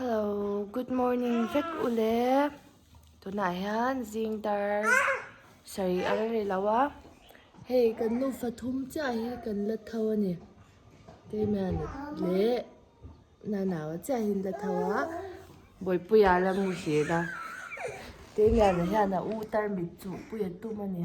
Hello, good morning vek u le. Tunah hian zing tar sari a la ri lo a. Hei kan nu fathum chiah hi kan la tho a ni. Keimah leh Nanau chiah hi an la tho a. Bawipuia la mu hlel a. Keimah leh hian a u tar mitchupui a tum a ni.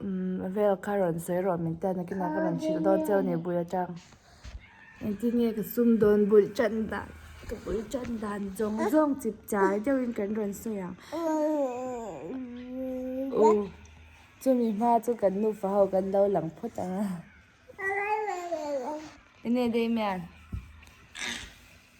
umm vel kha rawn sawi rawh min tia nakin ah kha rawn chhilh dawn cheu ni buai atang engti nge ka sum dawn bul tan dan ka bul tan dan zawng zawng chip chai deuhin kan rawn sawi ang uh chumi hma chu kan nufa ho kan lo lang phawt ang a ine daih mian.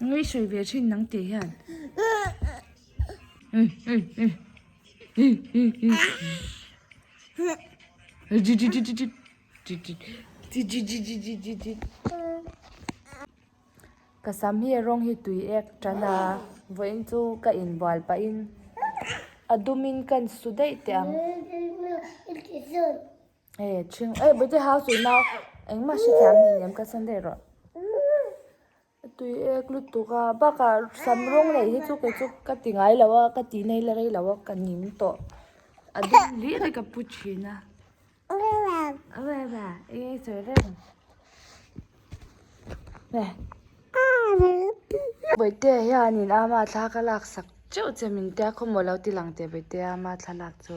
Ngei sawi ve thin nang teh hian. Ka sam hi a rawng hi tui ek tan a, vawiin chu ka inbual pah in a dum in ka insu daih teh ang. Ehh chhing ehh bute house ui nau engmah hre thiam hnih lem ka chhan daih rawh tui ek lutuk a bakah sam rawng neih hi chu kei chu ka ti ngai lo a ka ti nei la rei lo a ka ning tawh a dum viau hi ka pu thin a eng sawi reng nge Bawitea hian in ama thla ka laksak cheu che min tia khawmual lo ti lang teh Bawitea ama thlalak chu.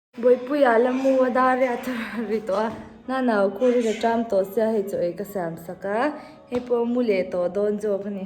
Bawipuia la mu a dar riah tha ri tawh a, hnanah u Khurin a ṭam tawh sia hei chu ei ka siam sak a, hei pawh mu leh tawh dawn zawk a ni.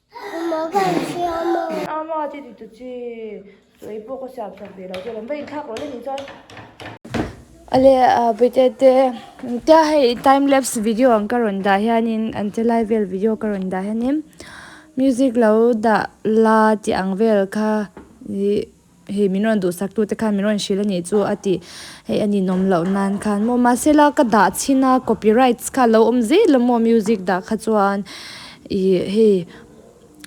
Mamah ka inthiah a ma. Ama che ti ta chi. Chu ei pawh ka siam chhan ve lo chuan an va inthlak loh le ni chuan. Ale Bute te tia hei time lapse video ang ka rawn dah hianin an che lai vel video ka rawn dah hianin music lo dah la tih ang vel kha ih. Hei min rawn duhsaktute khan min rawn hrilh a nih chu a ti. Hei a ninawm loh nan khan maw? Mahse la ka dah chhin a, copyrights kha a lo awm zet la maw music dah kha chuan ih hei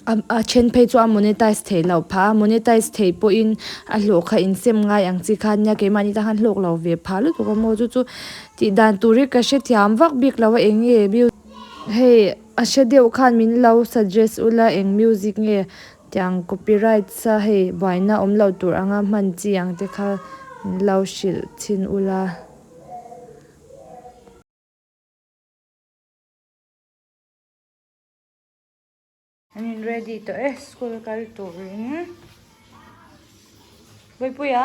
a then phei chu a monetize theih loh phah a, monetize theih pawhin a hlawh kha insem ngai ang chi kha nia, keimahni te khan hlawk lo ve phah lutuk a maw? Chu chu tih dan tur hi ka hre thiam vak bik lo a, eng nge music hei a hre deuh khan min lo suggest ula, eng music nge Tiang copyrights a hei buaina awm lo tur anga hman chi ang te kha min lo hrilh chhin u la. An in ready tawh e school kal turin. Vawipuia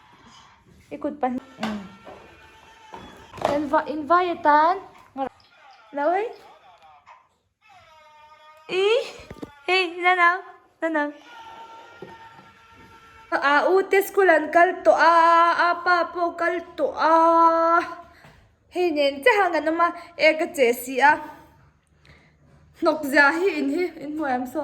I kut pahnih em? Kan va in vai atan ngar lo hei. I hei na na na na. A u te school an kal tawh a a pa pawh kal tawh a hei nen che han kan awm a e ka che si a hnawk zia hi in hi in hmuh ang so.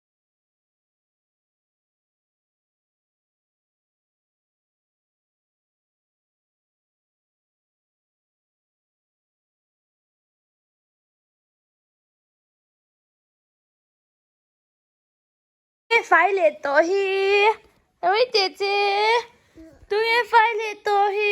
fai leh tawh hi rui teh che tui e fai leh tawh hi.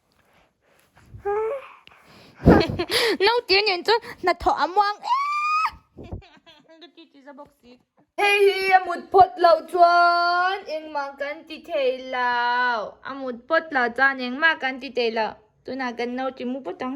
Nautir nen chu hnathawh a muang e. Hei hi a mut phawt loh chuan engmah kan ti thei loh. A mut phawt loh chuan engmah kan ti thei loh. Tunah kan nautir mup phawt ang.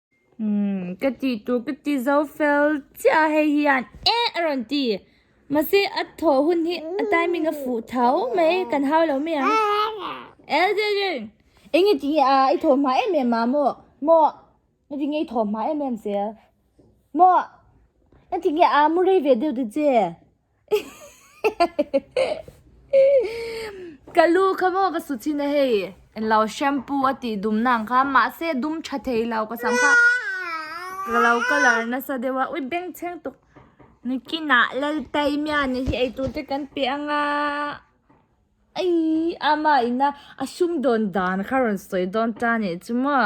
Ka tih tur ka ti zo fel chiah a hei hian eh a rawn ti. Mahse a thaw hun hi a timing a fuh thau mai kan hau lo mai ang. Elderin! Eng nge ti a i thaw hma em em a maw? Maw? Na ti nge i thaw hma em em che? Maw? Na ti nge a mu rei ve deuh te che? Ka lu kha maw ka suchina hei enlo shampoo a tih dumna ang kha mahse dum tha theilo ka sam kha ka lo color nasa deuh a ui beng chheng tuk nikina laltaimia nih hi eitute kan pe anga aii ama ina a sumdawn dan kha rawn sawi dawn ta nih chu maw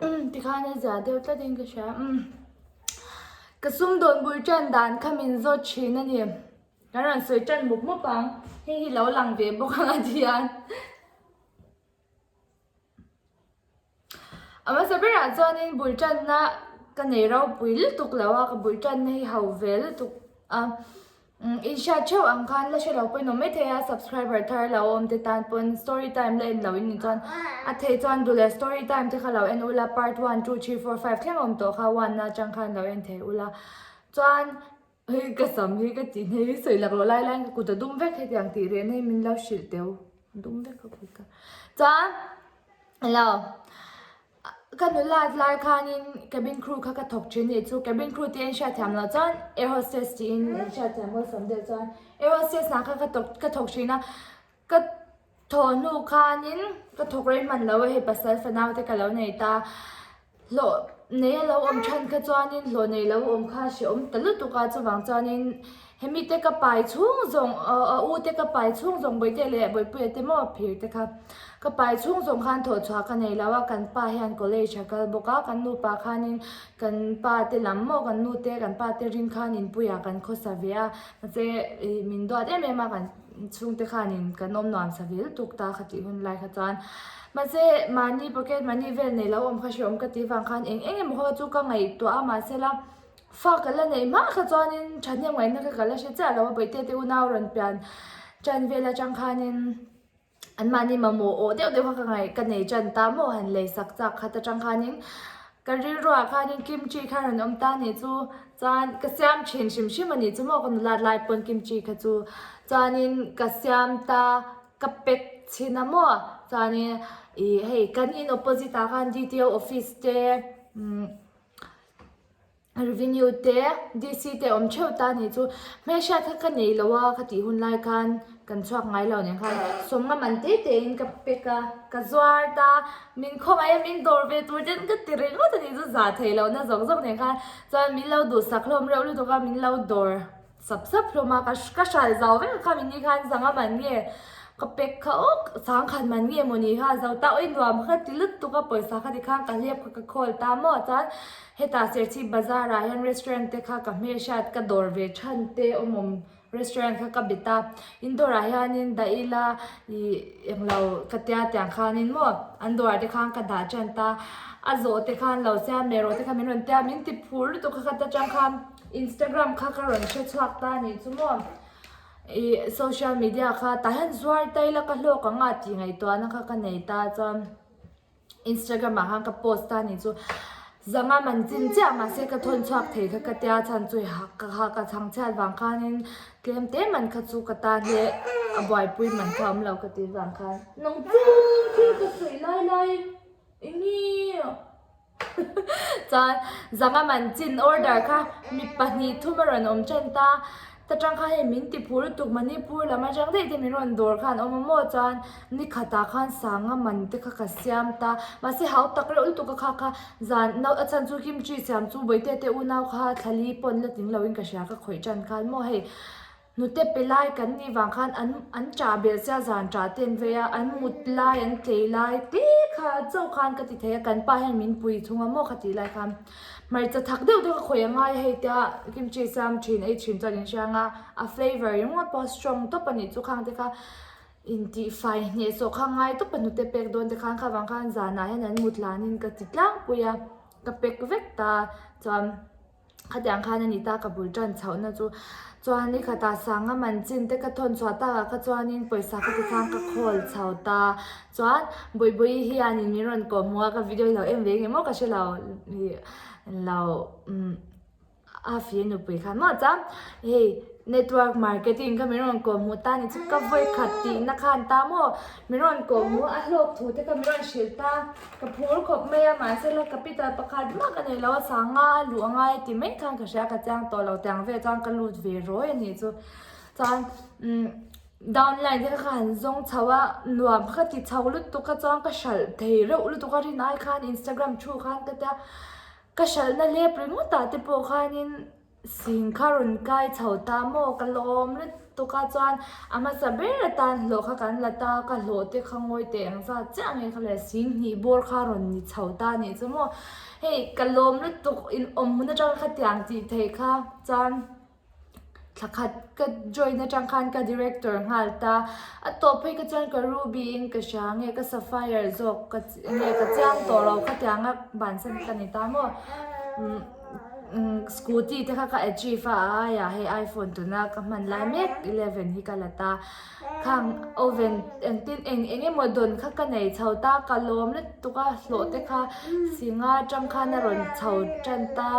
um tikhan a zia deuh tlat in ka hria um ka sum dawn bul tan dan kha min zawt thin a ni ka rawn sawi tan mup mup ang hei hi lo lang ve bawk ang a tihian. A hmasa berah chuanin bul tanna ka nei ropui lutuk lo a, ka bul tanna hi hau ve lutuk a. Inhriat theuh ang khan la hre lo pawhin awm e thei a, subscriber thar lo awm te tan pawn story time la en loin ni chuan a thei chuan du leh story time te kha lo en ula part one two three four five thleng awm tawh kha one atang khan lo en thei ula. Chuan. Hei ka sam hi ka ti hei sawi lak loh lai laiin ka kut a dum vek hetiang tih rehna hi min lo hrilh teuh a dum vek ka kut a chuan hello ka nu lak lai khanin cabin crew kha ka thawk thin anih chu cabin crew te in hriat thiam loh chuan air hostess tiin in hriat thiam welcome deuh chuan air hostess ang kha ka tawk ka thawk thin a ka. Thawhnu khanin ka thawk rei hman lo a, hei pasal fanau te ka lo nei ta. Hlawh nei a lo awm than kha chuanin hlawh nei lo awm kha a hrehawm ta lutuk a, chuvang chuanin hemi te ka pai chhung zawng a u te ka pai chhung zawng Bawihtei te leh Bawipuia te maw phir te kha ka pai chhung zawng khan thawh chhuah ka nei lo a, kan pa hian college a kal bawk a, kan nupa khanin kan pa te lam maw kan nu te kan pa te ring khan inpuiah kan khawsa ve a, mahse min duat em em a kan. chhungte khanin kan awm nuam savil tuk ta kha tih hun lai kha chuan mahse mahni pocket money vel nei lo awm kha hre awm ka tih vang khan eng eng emaw kha chu ka ngaihtuah a mahse la fa ka la neih hma kha chuanin thahnem ngaihna kha ka la hre chiah lo a bawihte te una a rawn pian tan vel atang khanin. Anmahni mamawh awh deuh deuh kha ka ngaih ka nei tan ta maw han lei sak chak khat atang khanin ka rilruah khanin kimchi kha han awm ta ni chu chuan ka siam thin hrim hrim a nih chu maw ka nula tlai pawn kimchi kha chu chuanin ka siam ta ka pack chhin a maw chuanin ih hei kan in opposite ah khan DTO office te umm. revenue te DC te awm theuh ta ni chu hmeichhia kha ka nei lo a ka tih hun lai khan kan chhuak ngai lo nen khan sawmnga man te te in ka pack a ka zuar ta min khaw mai a min dawr ve tur te an ka ti reng ngawt a nih chu za thei lohna zawk zawk nen khan chuan min lo duh sak hlawm reuh lutuk a min lo dawr Sap sap hlawm a, ka hral zau vek a kha min ni khan zanga man nge ka pek kha awk sang khat man nge maw ni kha zo ta awih nuam kha ti lut tuk a pawisa kha ti khan ka hlep kha ka call ta maw chuan heta serchhip bazar ah hian restaurant te kha ka hmehriat ka dawr ve than te awmawm restaurant kha ka be ta indoor ah hian in da ila ih englo ka tia tiang khan in maw an dawr ah te khan ka dah than ta a zawh te khan lo siam leh rawh te kha min rawn tia min ti phur lutuk kha khat atang khan. Instagram kha ka rawn hre chhuak ta ni chu maw i social media kha tah hian zuar ta ila ka hlawk ang a tih ngaihtuahna kha ka nei ta chuan Instagram ah khan ka post ta ni chu zanga man chin chiah mahse ka thawn chhuak thei kha ka tia chhan chu ha ka chhang chhiat vang khanin tlem te man kha chu ka ta hle a buaipui man kha awm lo ka tih vang khan nang chu thil ka sawi lai lai i ngi. Chuan zanga man chin order kha mi pahnih thuma rawn awm ṭan ta. Ta ṭang kha hei min ti phu lutuk Manipur lam aṭang daih te min rawn dawr kha an awm a maw chuan ni khatah khan sanga man te kha ka siam ta. Mahse hau tak reuh lutuk a kha kha zan nau a chhan chu kimchi siam chu Bawihte te unau kha thla li pawn la ting lo in ka hria ka khawih ṭan khan maw hei. Hnute pe lai kan nih vang khan an an ṭah bel sia zan ṭah te an vei a, an mut lai an tlei lai te kha chauh khan ka ti thei a, kan pa hian min pui thung a maw kha tih lai khan hmarcha thak deuh deuh kha khawih a ngai a hei tia kimchi siam ṭhin ei ṭhin chuan in hrang a, a flavour ringawt pawh a strong tawp a nih chu khang te kha in tih fai hneh sawh kha ngai tawp a hnute pek dawn te khan kha vang khan zanah hian an mut lanin ka ti tlangpui a, ka pek vek ta chuan. Khatiang khan a ni ta ka bul tan chhoh na chu chuan ni khata sanga man chin te ka thawn chhuah ta kha chuan in pawisa ka ti khan ka khawl chho ta chuan bawi bawi hian in min rawn kawh hmu a ka video hi lo en ve ngemaw ka hrelo ih lo umm a fir nupui khan maw chuan hei network marketing kha min rawn kawh hmu ta ni chu ka vawi khat tih na khan ta maw min rawn kawh hmu a hlawk thu te kha min rawn hrilh ta. Ka phur khawp mai a, mahse la capital pakhat mak a nei lo a, sangha a luh a ngai ti mai khan ka hria, ka chiang tawh lo tiang vel chuan ka lut ve rawi a nih chu. Chuan umm down line te kha kha han zawng chho a, nuam kha ti chho lutuk a chuan ka hralh thei reuh lutuk a, rin ai khan Instagram thu khan ka tia, ka hralhna lep ringawt ah te pawh khanin. Sin kha rawn kai chho ta maw ka lawm lutuk a chuan a hmasa ber atan hlawh kha kan la ta ka hlawh te kha ngawi teh ang zat chiah ang e kha le sin hnih bawr kha rawn ni chho ta nih chu maw hei ka lawm lutuk in awm hun atang kha tiang tih theih kha chuan thla khat ka join atang khan ka director nghal ta a tawp phei kha chuan ka ruby in ka hria nge ka sapphire zawk ka nge ka chiang tawh lo kha tiang a bansan ka ni ta maw umm. Scooty te kha ka achieve a a aia he iPhone tuna ka hman lai mek eleven hi ka la ta khang oven eng tin eng eng emaw dawn kha ka nei chho ta ka lawm let tuk a hlawh te kha singa tangkhan a rawn chho tan ta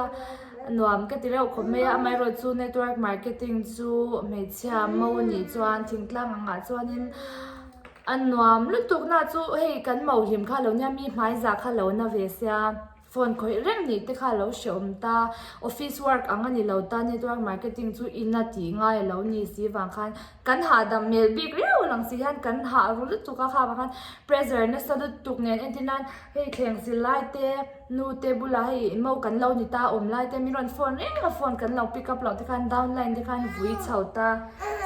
nuam ka ti reuh khawp mai a amaherawhchu chu network marketing chu hmeichhia mo nih chuan thingtlang ang ah chuan in a nuam lutuk na chu hei kan mauhlim kha lo nia mi hmai za kha lo na ve sia. Phone khawih reng ni te kha lo hrehawm ta, office work ang a ni lo ta, network marketing chu ina tih ngai a lo ni si vang khan kan hahdam hmel bik riau lang si hian kan hahru lutuk a kha vang khan pressure nasa lutuk nen entir nan hei thleng zir lai te nu te bulah hei mo kan lo ni ta awm lai te min rawn phone reng a phone kan lo pick up loh te khan down line te khan vui chho ta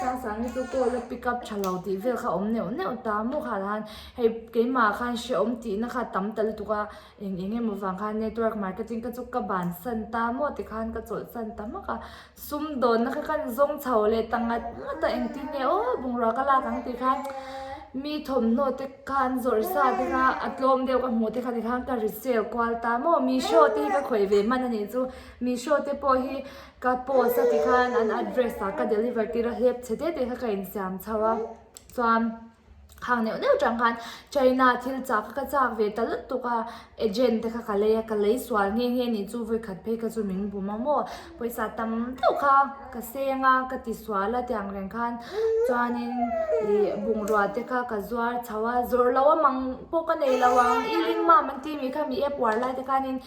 sang sangte chu call a pick up tha lo tih vel kha awm neuh neuh ta mawkha han hei keimah khan hrehawm tihna kha tam ta lutuk a. Eng eng emaw vang khan network marketing ka chu ka ban san ta maw ti khan ka chawlh san ta mak a, sum dawn na kha khan zawng chho leh ta ngat ngat a engtin nge aw bungrua ka lak ang tih khan mi thawmhnaw te khan zawrh sa te kha a tlawm deuh ka hmu te kha ni khan ka ri sell kual ta maw Meesho te hi ka khawih ve man a nih chu Meesho te pawh hi ka post a ti khan an address ah ka deliver tir a hlep chhe tete kha ka insiam chho a chuan. Khang neuh neuh chang khan China thil chak kha ka chak ve ta lut tuk a, agent te kha ka lei a, ka lei sual nghe nghe ni chu vawi khat phei kha chu min bum a maw, pawisa tam deuh kha ka seng a, ka ti sual a tiang reng khan chuanin ih bungrua te kha ka zuar chho a, zawrh lo a mang pawh ka nei lo ang i ring mam an ti mi kha mi e puar lai te khanin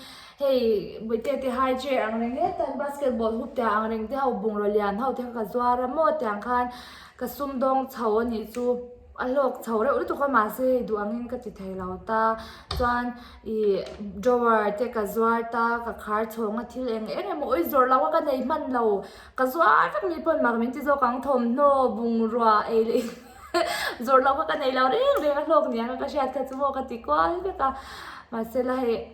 hei Buaite te high chair ang reng e tan basketball hoop te ang reng te ho bungraw lian ho te kha ka zuar a maw tiang khan, Ka sum dawng chho a nih chu. A hlawk chho reuh lutuk a mahse hei duh angin ka ti thei lo ta. Chuan ih drawer te ka zuar ta, ka khar chhawng a thil eng eng emaw awih zawrh loh a ka nei hman lo. Ka zuar vek ni pawn mak min ti zawk ang thawmhnaw, bungrua ei leh ih zawrh loh kha ka nei lo reng reng a hlawk ni ang kha ka hriat kha chu maw ka ti kual vek a. Mahsela hei.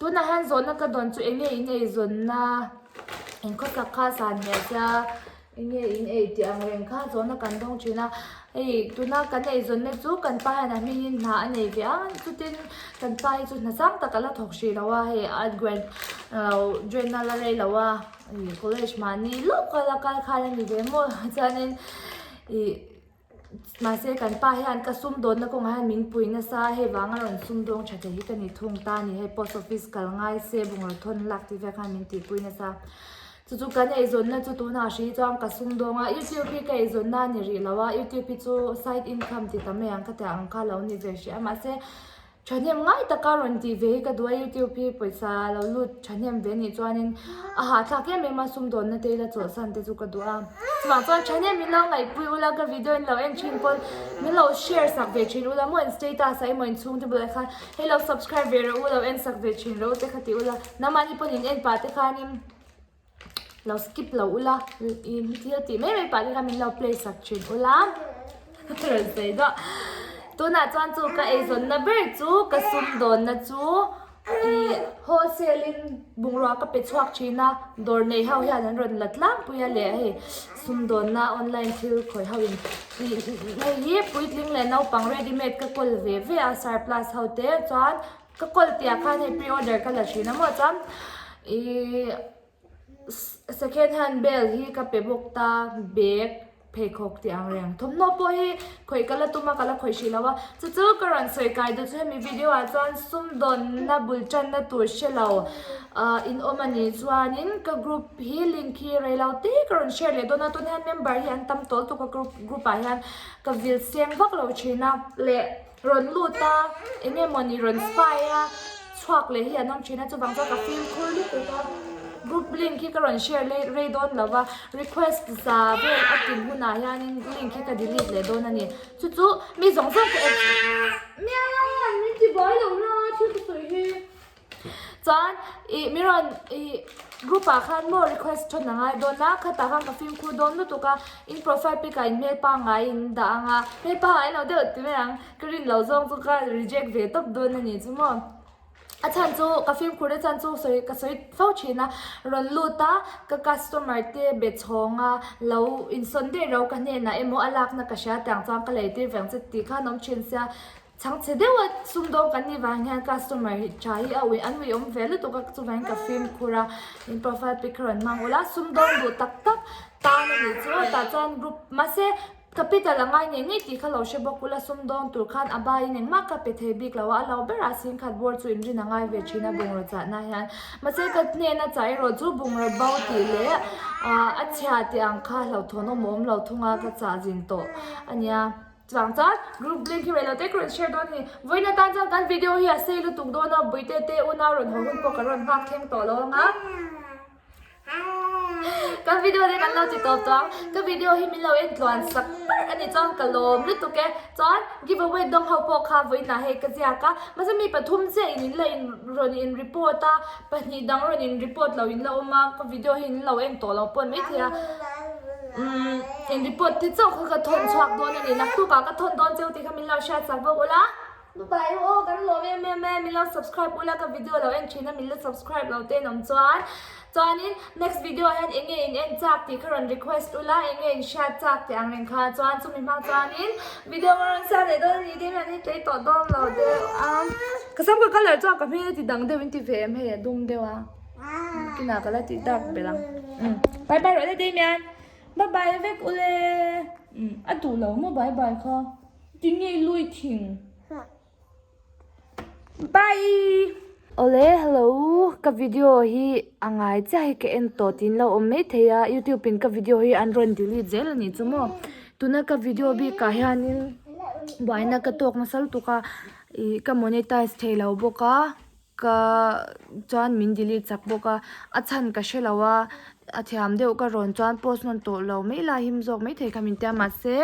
Tunah hian zawhna ka dawn chu enge in ei zawnna in khaw thlak kha san hmel a sia, enge in ei tih ang reng kha zawhna kan dawng thin a, hei tuna kan ei zawn na chu kan pa hian a hming in hna a nei ve a, chutin kan pa hi chu hna sang tak a la thawk hrih lo a, hei a grand journal a lei lo a, college mahni lawk kha a la kal khan a ni ve maw chuan in ih. Mahse, kan pa hian ka sum dawtna kawngah hian min pui nasa a, hei vang a rawn sumdawng tha theih hi ka ni thung ta a ni. Hei post office kal ngai se bungraw thawn in lak tih vel khan min tih pui nasa a. Chu chu kan eizawnna chu tunah a hri chuan ka sumdawng a, youtube hi ka eizawnna a ni rih lo a, youtube hi chu side income ti ta mai ang ka tih ang kha a lo ni ve hriat a. Mahse. Thahnem ngai taka rawn tih ve hi ka duh a, YouTube hi pawisa lo lut thahnem ve nih chuanin a hahthlak em em a, sumdawnna te ila chawlhsan te chu ka duh a. Chumah chuan thahnem min lo ngaihpui ula, ka video in lo en thin pawn min lo share sak ve thin ula, maw in status ah emaw inchhung te bulah khan hei lo subscribe ve reh u, lo en sak ve thin reh u te kha ti ula, nahmahni pawn in en pah te khanin. lo skip lo ula thil tih mai mai pah te kha min lo play sak thin ula rawn sawi duah tunah chuan chu ka eizawnna ber chu ka sum dawnna chu ih wholesale in bungrua ka pe chhuak thin a dawr nei ho hian an rawn la tlangpui a leh a hei sum dawnna online thil khawih ho in ih hei hi puitling leh naupang readymade ka kawl ve ve a surplus ho te chuan. Ka call tia khan hei pre order ka la thin a maw chuan ih second hand bel hi ka pe bawk ta bag pheikhawk tih ang reng thawmhnaw pawh hi khawih ka la tum a ka la khawih hrih loh a chu chu ka rawn sawi kai duh chu hemi video ah chuan sumdawnna bul tanna tur hre lo ah in awm a nih chuanin ka group hi link hi reilo te ka rawn share leh dawn a tunah hian member hi an tam tawh tuk a group ah hian ka vil seng vak lo thin a leh Rawn lut a, eng nge maw ni rawn fai a, chhuak leh hi an awm thin a, chuvang chuan ka feel phur lutuk a, group link hi ka rawn share rei dawn lo va, request za vel a tin hunah hianin link hi ka delete leh dawn a ni, chu chu mi zawng zawng ka en miau! Min ti buai lo la thil ti sawi hi. Chuan i Miron i group ah khan maw request tho na ngai dawn a, khatah khan ka fimkhur dawn lutuk a, in profile pic ah in hmel pangngai in dah ang a, hmel pangngai lo deuh ti mai ang, ka rin lo zawng chu ka reject ve tawp dawn a nih chu maw. A chhan chu ka fimkhur te chhan chu sawi ka sawi fo thin a, rawn lut a ka customer te be chhawng a lo insawn daih ro ka hnenah emaw a lakna ka hria tiang chuan ka lei tir veng che tih khan awm thin sia. Chhangchhe deuha sum dawng kan nih vang hian customer hi tha hi a ui an ui awm ve lutuk a chuvang in ka fim khur a min profile pic ka rawn hmang ul a sum dawng duh tak tak tan a nih chu tah chuan group mahse capital a ngai ngei ngei tih kha lo hre bawk ula sum dawng tur khan a baiin engmah ka pe thei bik lo a a lo ber a sin khat bur chu inrin a ngai ve thin a bungraw chahna hian mahse ka hnen a chah erawh chu bungraw bo tih leh a chhia tih ang kha hlauhthawn awm awm lo thung a ka chah zin tawh a nia. Chutang chuan group link hi reh lo te ka rawn share dawn a ni. Vawiin atan chuan kan video hi a sei lutuk dawn a, buaite te una rawn haw hun pawh kan rawn nghak thleng tawh lo ang a. Ka video te kan lo ti tawp tawh ang. Ka video hi min lo en tluan sak ber a ni chuan ka lawm lutuk e. Chuan giveaway dawng ho pawh kha vawiin ah hei ka ziak a. Mahse mi pathum chiahin in la in rawn in report a. Pahnih dang rawn in report lo in la awm a, ka video hi in lo en tawh lo pawh mai thei a. Umm in report te chauh kha ka thawn chhuak dawn a ni, naktuk ah ka thawn dawn che u tih kha min lo hriat chak bawk u la. Nu pa erawh aw kan lawm em em e, min lo subscribe u la, ka video lo en thin a min la subscribe lo te an awm chuan. Chuanin next video ah hian enge in en chak tih kha rawn request u la, enge in hriat chak teh ang reng kha chuan chumi hmang chuanin video kha rawn siam leh dawn a ni tih kha min hlei tawh dawn lo deuh a. Ka sam ka colour chuan ka hmel a ti dang deuh in ti ve em hei a dum deuh a kinah ka la ti dark belh ang bye bye rawh le Damian bye bye a vek ule a duh lo maw bye bye kha ti nge i lui thing bye awle hello ka video hi a ngai chiah hi ka en tawh tiin lo awm mai thei a youtube in ka video hi an rawn delete zel anih chu maw tuna ka video bik ah hianin buaina ka tawk nasal tuk a. Ih ka monetize thei lo bawk a ka chuan min delete chak bawk a a chhan ka hre lo a a thiam deuh ka rawn chuan post rawn tawh lo mai lai him zawk mai thei kha min tia mahse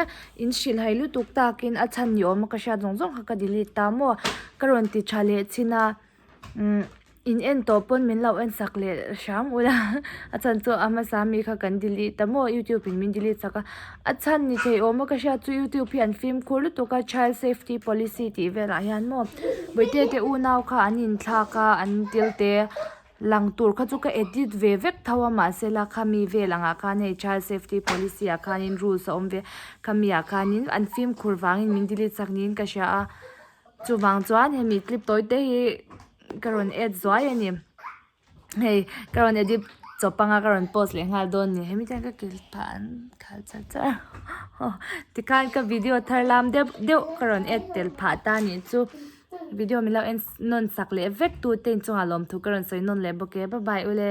in hrilhhai lutuk takin a chhan ni awm a ka hriat zawng zawng kha ka delete ta maw ka rawn ti tha leh chhin a. umm in en tawh pawn min lo en sak leh hrang ngawt a a chhan chu a hmasa ami kha kan delete ta maw youtube in min delete sak a a chhan ni thei awm a ka hria chu youtube hi an fimkhur lutuk a child safety policy tih vel ah hian maw vawitia te unau kha an in thlak a an tel te lang tur kha chu ka edit ve vek tho a mahse la khami vel ang ah khan hei child safety policy ah khan in rules a awm ve khami ah khan in an fimkhur vang in min delete sak niin ka hria a. Chuvang chuan hemi clip tawi te hi ka rawn add zuai a ni. Hei ka rawn edit chaw panga ka rawn post leh nghal dawn a ni. Hemi chuan ka kil pha an khal char char a. Haw tikhan ka video thar lam deuh deuh ka rawn add tel phah ta ni chu video min lo en nawn sak leh vek tute in chungah lawmthu ka rawn sawi nawn leh bawk e. Bye bye ule.